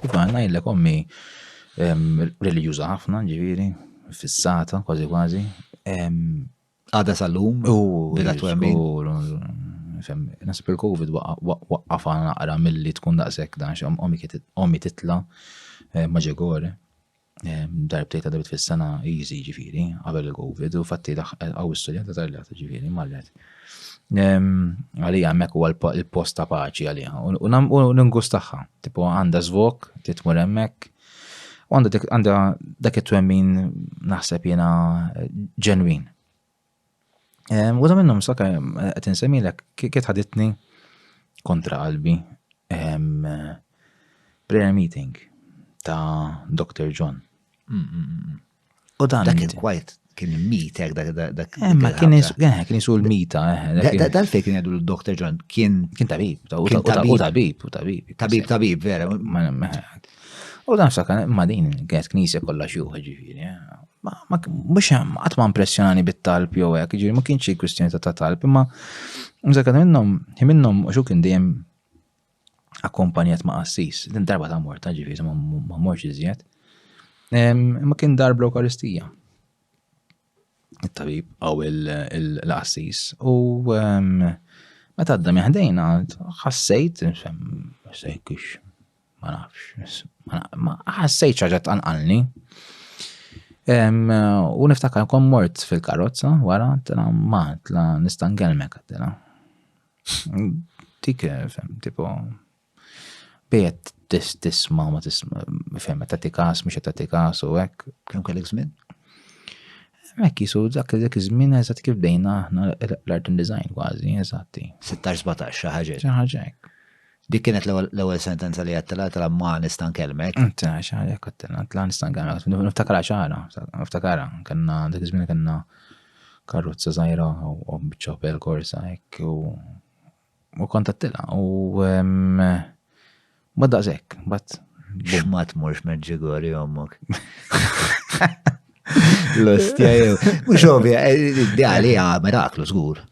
Iva, ngħidlek ommi reliġjuża ħafna, ġifieri, fissata kważi kważi. Għada sal-lum, bila twemmin. Nasib il-Covid waqqaf naqra mill-li tkun daqshekk dan, ommi titla' maġegore. darbtej ta' debit fis-sena easy ġifiri, qabel il-Covid, u fatti għaw istorja ta' tarlata ġifiri, marret. Għalija mek u l-post ta' paċi għalija, u n-ngus taħħa, tipo għanda zvok, titmur emmek, u għanda dak it-twemmin naħseb jena ġenwin. Ehm, Waħda minnhom saka eh, qed insemmilek kiet ħaditni kontra qalbi ehm, prayer meeting ta' Dr. John. Mm, mm, mm, U dan dak il-kwajt kien mitek dak dak. Eh, ma kien eh, kien isu l-mita. Eh, dal fej kien jgħidu l-Dr. John kien kien tabib, u tabib, u tabib. Tabib, tabib, vera. U dan sakan, ma din kienet knisja kollha xjuħ ġifieri. Ma, ma, mux hemm, qatt ma impressjonani bit-talb jew hekk, ġiri ma kienx xi kwistjoni ta' talb, imma mżekka minnhom, hi minnhom xu kien dejjem akkompanjat ma' qassis, din darba ta' morta ġifieri ma morx iżjed. Imma kien darb l-Ewkaristija. It-tabib għaw il-qassis u meta għadda meħdejna ħassejt, sejkix Ma nafx, ma ħassejt ċaġa tanqalni. U niftakar kon mort fil-karozza, wara, tela maħt, la nistangelmek, tela. Dik, fem, tipo, bijet tisma ma tisma, fem, ta' tikas, mux ta' tikas u ek. Kem kellek zmin? Mek jisu dak dak iż-żmien eżatt kif bdejna aħna l-art and design kważi, eżatti. 16-17 xi ħaġa. Xi ħaġa hekk. Dik kienet l-ewwel sentenza li għattela tela ma nista' nkellmek. Inta xaħja kattela tela nista' nkellmek. Niftakara xara, niftakara, kellna dik iż-żmien kellna karrozza żgħira u biċċa pel korsa hekk u u kontattila u ma daqshekk, bat. X'ma tmurx meġġigori ommok. L-ostja jew. Mhux ovvja, eh, ideali għamel aklu żgur.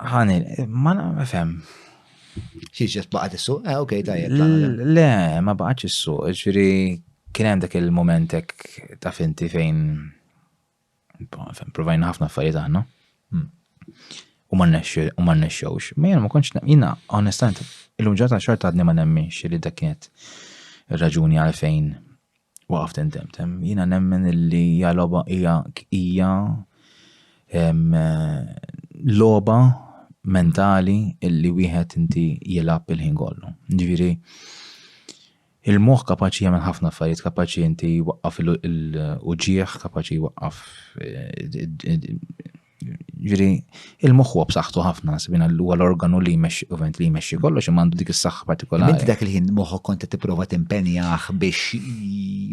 Ħani, ma nafhem. Xiex baqgħet is-suq? Eh, okej, tajjeb. Le, ma baqgħetx is-suq, ġifieri kien hemm dak il-momentek ta' finti fejn provajna ħafna affarijiet aħna. Hmm. U ma nexxewx. Ma jena ma konċ, jena onestament, il-lum ġata xorta għadni ma nemminx li dak kienet raġuni għalfejn Waqaft intemmt, jiena nemmen illi hija logħba hija hija logħba mentali illi wieħed inti jilgħab il-ħin kollu. Ġifieri il-moħħ kapaċi jagħmel ħafna affarijiet, kapaċi inti jwaqqaf il-uġieħ, kapaċi jwaqqaf Ġiri, il-moħħ huwa b'saħħtu ħafna, sibina l huwa l-organu li jmexxi ovent li jmexxi kollox imma għandu dik is-saħħa partikolari. Inti dak il-ħin moħħok kont qed tipprova timpenjah biex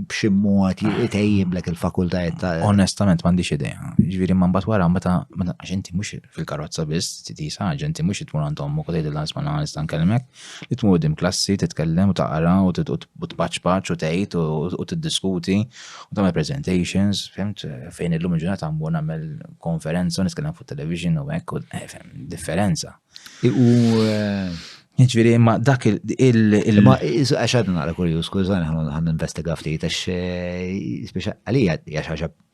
b'xi mod jtejjiblek il-fakultajiet ta' Onestament m'għandix idea. Ġifieri ma mbagħad wara meta għax inti mhux fil-karozza biss titisa, inti mhux tmur għandhom u tgħidilha isma' nista' nkellmek. Li tmur quddiem klassi, titkellem u taqra u tpaċpaċ u tgħid u tiddiskuti u tagħmel presentations, fimt, fejn illum il-ġurnata mmur nagħmel konferenza u nitkellem fuq television u hekk, eh, differenza. U Ġviri, ma dak il- Ma għax għadna naqra kurju, skużani ħan investiga ftit, għax eh, għalija għax għax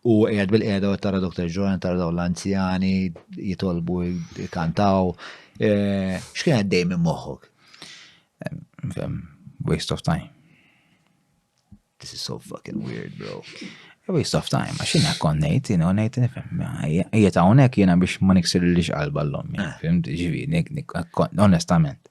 U għed bil-qeda u tara Dr. Ġoran, tara daw l-anzjani, jitolbu, kantaw. Eh, xkien għaddej minn moħħok? Waste of time. This is so fucking weird, bro. Waste of time, għax jina konnejt, jina konnejt, nifem, jieta unek jina biex ma niksir li xqalba l-lom, eh. fim, ġivi, onestament.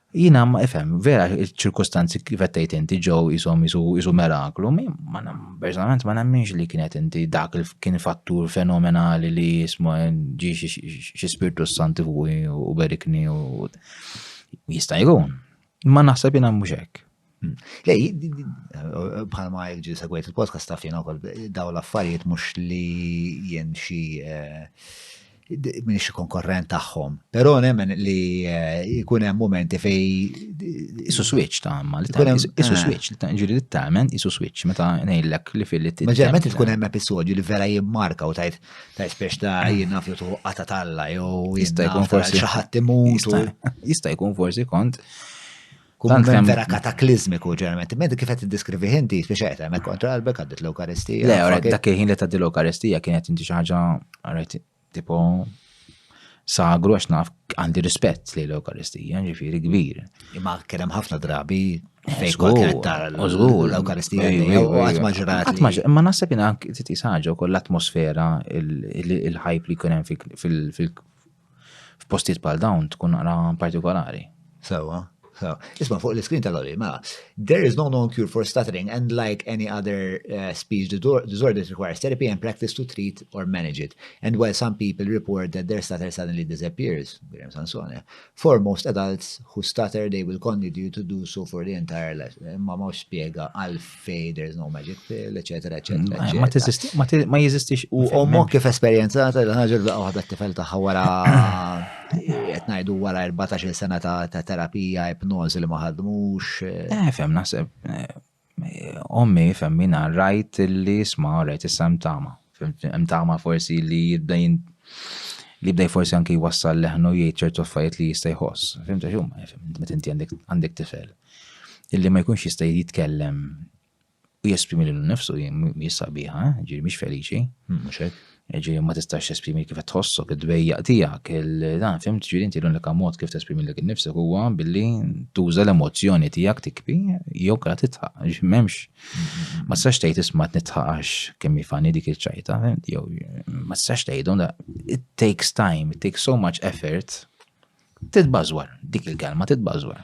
Jina ma ifhem, vera ċirkustanzi kif qed tgħid inti ġew isom isu meraklu, ma personalment ma nemminx li kienet inti dak kien fattur fenomenali li jisma ġi xi spirtu santi fuqi u berikni u jista' jkun. Ma naħseb jina mhux hekk. Lej, bħalma il-ġi segwejt il-podcast taf jena kol daw l-affarijiet mux li jen xi eh, minn xi konkorrent tagħhom. Però nemmen li eh, jkun hemm momenti fej isu switch ta' ma li eh. isu switch li ta' ġiri li tamen isu switch meta ngħidlek li fil li t meta tkun hemm episodju li vera jimmarka u tajt ta' spiex ta' ah. jiena fjutu qata talla jew jista' jkun forsi xi ħadd imut jista' jkun forsi kont Kumment vera kataklizmiku ġeneralment. Medi kif qed tiddiskrivi inti biex qed hemmhekk kontra qalbek għaddit l-Ewkaristija. Le, ora dak il-ħin li tgħaddi l-Ewkaristija kienet inti xi ħaġa rajt tipo sagru għax naf għandi rispett li l-Ewkaristija, ġifieri kbir. Imma kien hemm ħafna drabi eh, fejn kol kienet tara l-Ewkaristija u qatt ma ġrat. Imma naħseb jien anke titqis ħaġa wkoll l-atmosfera, il-ħajb li jkun hemm fil- F'postijiet bħal dawn tkun naqra partikolari. Sewa, sewa. Isma' fuq l-iskrin tal-oli, ma, mela, there is no known cure for stuttering and like any other uh, speech disorder requires therapy and practice to treat or manage it. And while some people report that their stutter suddenly disappears, Graham Sansone, for most adults who stutter they will continue to do so for the entire life. Ma ma spiega għalf fej there is no magic pill, eccetera, eccetera. Mm, ma jeżistix u ommu kif esperienzata l-ħagġa l-baqqa waħda t-tifel taħħa wara jtnajdu wara 14 sena ta' terapija, ipnoz li maħadmux. Eh. eh, fem naħseb, eh, ommi fem minna rajt li sma rajt issa mtama. Mtama forsi li jibdajn li bdej forsi anki wassal leħnu jgħid ċertu affarijiet li jista' jħoss. Fimta xum, meta inti għandek tifel. illi ma jkunx jista' jitkellem u jesprimi lilu nnifsu mhijiex sabiħa, ġifieri mhix feliċi. Hmm, mhux hekk. Ġifieri ma tistax tesprimi kif qed tħossok, id-dwejjaq tiegħek, dan fim ġifieri inti l-unika mod kif tesprimi lilek innifsek huwa billi tuża l-emozzjoni tiegħek tikbi jew kara titħaq, ġifieri m'hemmx. Hmm. Ma tistax tgħid isma' nitħaqax kemm jifani dik iċ-ċajta, jew ma tistax tgħidhom it takes time, it takes so much effort Titbażwar, dik il-kelma titbażwar.